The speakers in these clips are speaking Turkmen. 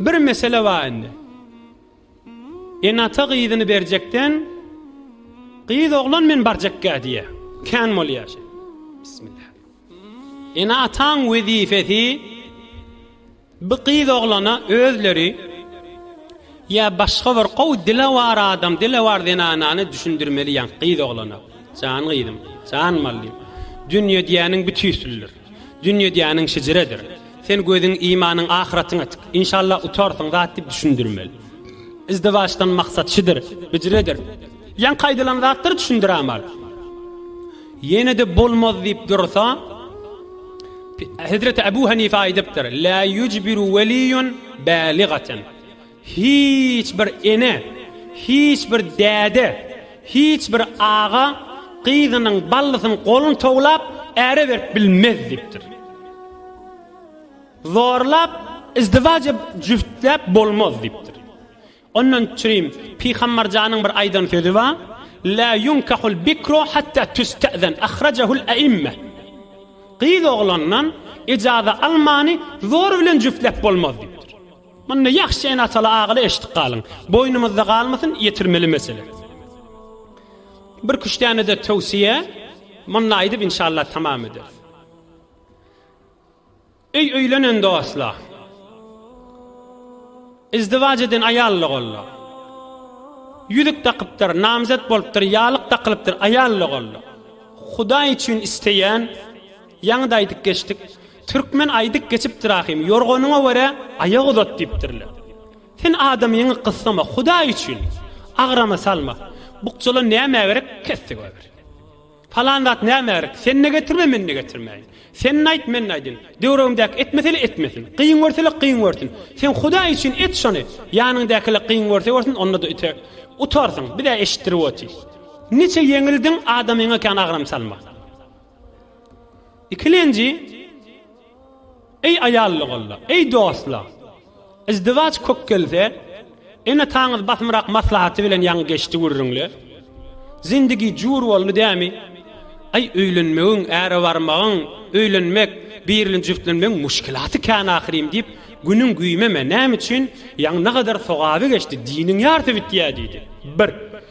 Bir mesele bar indi. Ene-ata gyzyny berjekden, gyz oglan men barjakka diýýär. Kän bolýar şeý. Bismillah. Ene-ataň wezipesi bu gyz oglana özleri ýa başga bir gow dilewar adam, dilewar zenanany düşündirmeli ýa gyz oglana. Jan gyzym, jan mallym. Dünýe diýýäniň bütüsüldir. Dünýe diýýäniň şejeredir. Sen gözüň, imanyň ahyratyňa tik. Inşallah utarsyň zat diýip düşündirmeli. Izdiwaçdan maksat şidir, bijiredir. Ýaňky aýdylan zatlar düşündirämal. Ýene-de bolmaz diýip dursa, Hezreti Abu Hanife aýdypdyr, La yujbiru waliyyun baligatan. Hiç bir ene, hiç bir däde, hiç bir aga gyzynyň, ballysynyň goluny towlap, äre berip bilmez diýipdir. Zorlap, izdiwaç edip, jübtläp bolmaz diýipdir. Ondan çürim Pygambarjanyň bir aýdan sözi bar, La yunkahul bikru hatta tüste'zen, ahrajahul e'imme. Gyz oglandan ijaza almany zor bilen jübtläp bolmaz diýipdir. Muny ýagşy ene-ataly agaly eşidip galyň. Boýnumyzda galmasyn, ýetirmeli mesele. Bir küştdäne-de töwsiýe munda aýdyp inşallah tamam ederis. Öý öýlenen dostlar. Izdiwaç eden aýalla golla. Ýüzük dakypdyr, namzet bolupdyr, ýalyk dakylypdyr, aýalla golla. Hudaý üçin isleýän, ýaňyda aýdyp geçdik. Türkmen aýdyp geçipdir ahym, Ýorganyňa görä aýak uzat diýipdirler. Sen adamyňy gyssama, Hudaý üçin, agrama salma. Bukjala nämä gerek, kesdi goýber. Palan zat nämä gerek, sen-de getirme, men-de getirmäýin. Sen-de aýt, men-de aýdyn. Döwregimdäki etmeseli etmesin. Kyn görseli kyn görsün. Sen Hudaý üçin et şony, ýanyňdakylar kyn görse görsün, onda-da üte utarsyň, biz-ä eşitdirip otyrys. Niçe ýeňildiň, adamyňa kän agram salma. Ikilenji, Eý aýallygolla, eý dostlar! Izdiwaç kök gelse, ene-ataňyz basymrak maslahaty bilen ýaňy geçdi gürrüňler. Zindigi jur boldy dämi? Aý, öýlenmegiň, äre barmagyň, öýlenmek, birlen-jübtlenmegiň muşkilaty kän ahyrym diýip, günüň güýmeme, nämüçin, ýaňy nagadar sogaby geçdi, diniň ýarsy bitýä diýdi. Bir.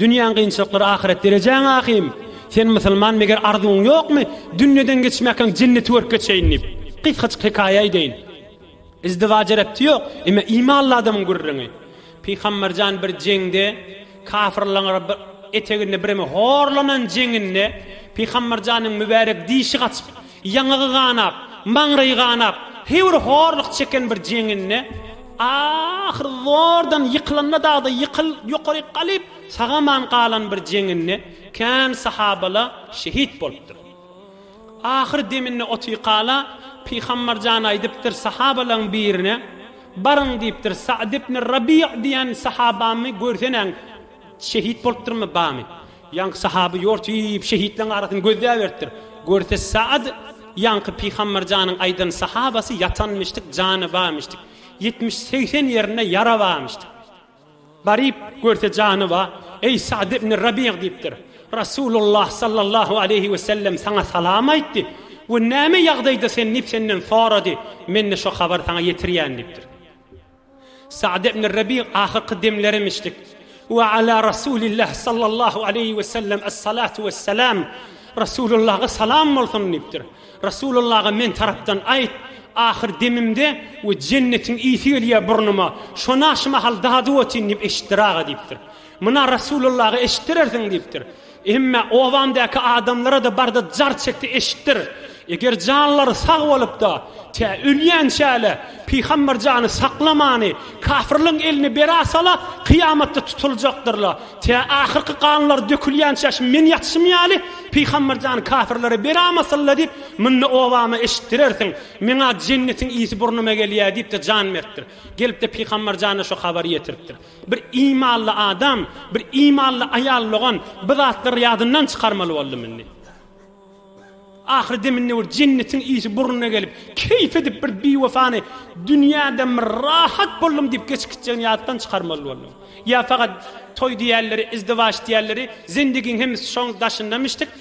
Dünýäň gynçylyklary ahyret derejäň ahym, sen musulman meger arzuwyň ýokmy dünýeden geçmäkäň jenneti görüp geçeýin diýip. Gysgajyk hekaýa aýdaýyn. Izdiwaja rebti ýok, emme imanly adamyň gürrüňi. Pygamberjan bir jeňde kafyrlaň eteginde birimi horlanan jeňinde Pygamberjanyň mübärek dişi gaçyp Ýaňagy ganap, maňraýy ganap, höwri horluk çeken bir jeňňende, ahyr zordan ýykylanda dagda ýykyl, ýokaryk galyp, sagaman galan bir jeňňende kän sahabala şehit bolupdyr. Ahyr deminde Otyykala Pygambar jan aýdypdyr sahabalaň birine, Baryň diýipdir, Sa'd ibn Rabi' diýen sahabamy görsenäň, şehit bolupdyrmy, bamy? Ýaňky sahaby ýortyp şehitleň arasyny gözläberipdir. Görse Saad ýaňky Pygambar janyň aýdan sahabasy ýatanmyşdyk jany barmyşdyk. Ýetmiş segsen ýerinde ýara barmyşdyk. Baryp görse jany ba, Eý Saad ibn Rabiýa diýipdir. Rasulullah sallallahu aleýhi we sellem saňa salam aýtdy we näme ýagdaýda sen diýip senden sorady. Mende şo habary saňa ýetirýän diýipdir. Sa'd ibn Rabi' ahyrky demlerimmişdik. Wa ala Rasulillah sallallahu aleýhi we sellem es-salatu wes-selam. Rasulullaha salam bolsun diýipdir. Rasulullaha men tarapdan aýt, ahyr demimde we jennetiň ysy gelýär burnuma, şona şu mahal dadyp otyryn diýip eşitdir aga diýipdir. Muna Rasulullaha eşitdirersiň diýipdir. Emme obamdaky adamlara-da barda jar çekdi eşitdir. Eger janlary sag bolup-da, tä ölýänçä-le, Pygamber jany saklamany, kafyrlaryň eline berasa-la, kyýamatda tutuljakdyrla. Tä ahyrky ganlary dökülýänçä şu meň ýatyşym ýaly, Pygamber jany kafyrlara beramasyn-la diýip, munda obama eşitdirersiň. Meň-ä jennetiň ysy burnuma gelýä diýip-de jan beripdir. Gelip-de Pygamber jana şu habary ýetiripdir. Bir imanly adam, bir imanly aýal logan bu zatlary ýadyndan çykarmaly boldum indi. Ahyry deminde bir jennetiň ysy burnuna gelip, keýp edip bir biwefany dünýäden bir rahat boldum diýip geçip gitjegini ýatdan çykarmaly boldum. Ýa fakat toý diýerleri, izdiwaç diýerleri, zendigiň hemmisi şoň daşyndamyşdyk,